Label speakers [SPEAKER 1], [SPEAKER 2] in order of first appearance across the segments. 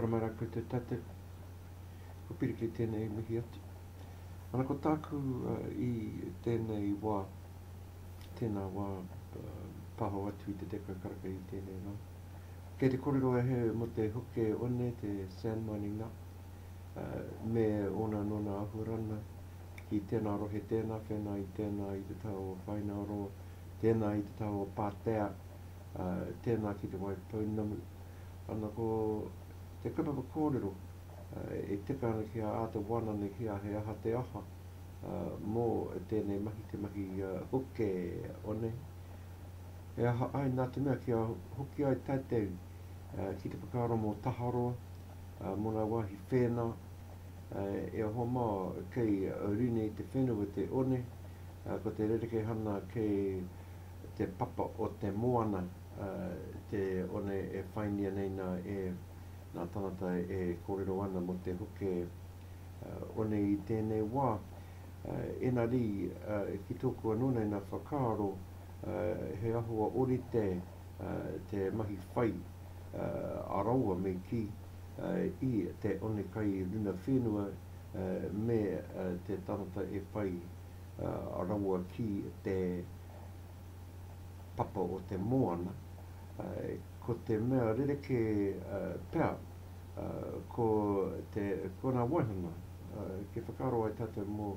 [SPEAKER 1] Maramara ko te tate, ko Piri kei tēnei i mihi atu. Ana ko tāku uh, i tēnei wā, tēnā wā uh, pāho atu i te tekau karaka i tēnei rā. Kei te kōrero e he mo te hoke one, te sand mining nā, uh, me ōna nōna ahuarana, ki tēnā rohe, tēnā whena, i tēnā i te tau o Whainaro, tēnā i te tau o Pātea, ā, tēnā ki Te Wai Pounamu. Ana ko te kaupapa kōrero, ā, e tika ana ki a āta wāna nei ki a He Aha Te Aha, ā, mō tēnei mahi, te mahi, ā, hoke o nei. He aha ai, nā te mea kia hoki ai tātou, ā, ki te whakaaro mō Taharoa, ā, mō ngā wāhi whēnā, E hoa mā, kei Rinei te whenua te one, ko te rerekehana kei te papa o te moana te one e whaingia nei nā e nā tangata e kōrero ana mō te hoke one i tēnei wā. Enarī, ki tōku anō nei nā whakaaro, he ahua orite te mahi whai a raua me kī. i te one kai runa whenua me te tangata e pai rawa ki te papa o te moana, ko te mea rerekē pea ko te, ko ngā waihanga kei whakaaro ai tātou mō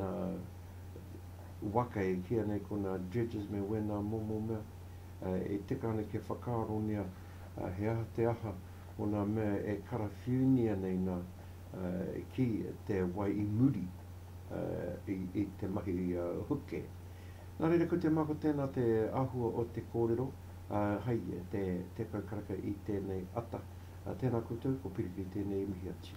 [SPEAKER 1] ngā waka e kīia nei ko ngā dredges me wēnā momo mea, E tika ana kia whakaarongia he aha te aha o ngā mea e karawhiunia nei nā ki te wai i muri i te mahi huke. Nā reira, ko te mako tēnā te āhua o te kōrero hai te kaukaraka i tēnei ata. Tēnā koutou, ko Piripi tēnei i mihi atu.